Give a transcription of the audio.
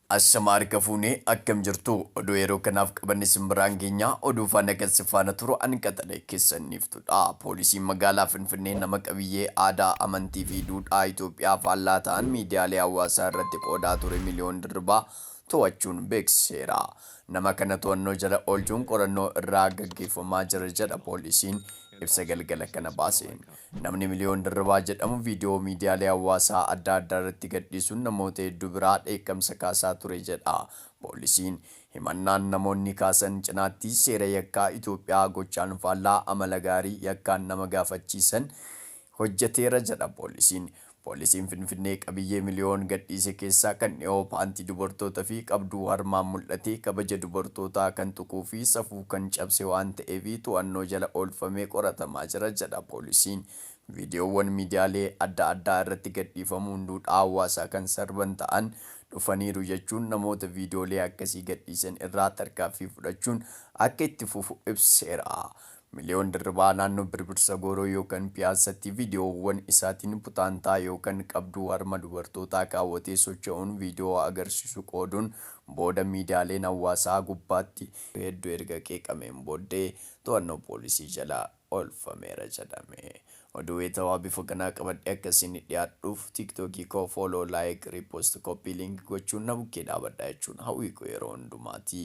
Ashamaa harka fuune akkam jirtuu oduu yeroo kanaaf qabanne isin biraan geenya oduu faana kan si faana turu an qaxalee keessan niiftudha poolisiin magaalaa finfinnee nama qabiyyee aadaa amantii fi duudhaa itoophiyaa faallaa ta'an miidiyaalee hawaasaa irratti qoodaa ture miliyoon dirribaa to'achuun beeksiseera Nama kana to'annoo jala oolchuun qorannoo irraa gaggeeffamaa jira jedha poolisiin ibsa galgala kana baaseen. Namni Miliyoon Dirribaa jedhamu viidiyoo miidiyaalee hawaasaa adda addaa irratti gadhiisuun namoota hedduu biraa dheekkamsa kaasaa ture jedha poolisiin. Himannaan namoonni kaasan cinaatti seera yakkaa Itoophiyaa gochaan faallaa amala gaarii yakkaan nama gaafachiisan hojjeteera jedha poolisiin. Poolisiin Finfinnee qabiyyee miliyoon gadhiise keessaa kan dhihoo paantii dubartoota fi qabduu harmaan mul'atee kabaja dubartootaa kan tuquu fi safuu kan cabse waan ta'eef to'annoo jala oolfamee qoratamaa jira jedha poolisiin. Viidiyoowwan miidiyaalee adda addaa irratti gadhiifamuun duudhaa hawaasaa kan sarban ta'an dhufaniiru jechuun namoota viidiyoolee akkasii gadhiisan irraa tarkaanfii fudhachuun akka itti fufu ibseera. Miliyoon Dirribaa naannoo Birbirsa Gooroo yookan Piyaassatti viidiyoowwan isaatiin putaantaa yookan qabduu harma dubartootaa kaawwatee socho'uun viidiyoo agarsiisu qooduun booda miidiyaaleen hawaasaa gubbaatti heddu erga qeeqameen booddee to'annoo poolisii jala oolfameera jedhame. Oduu wayitawaa bifa kanaa qabadhee akka isinii dhiyaadhuuf TikTokii koo Follow, Like, Repost, Copy Link gochuun na bukkee dhaabadhaa jechuun hawwii koo yeroo hundumaati.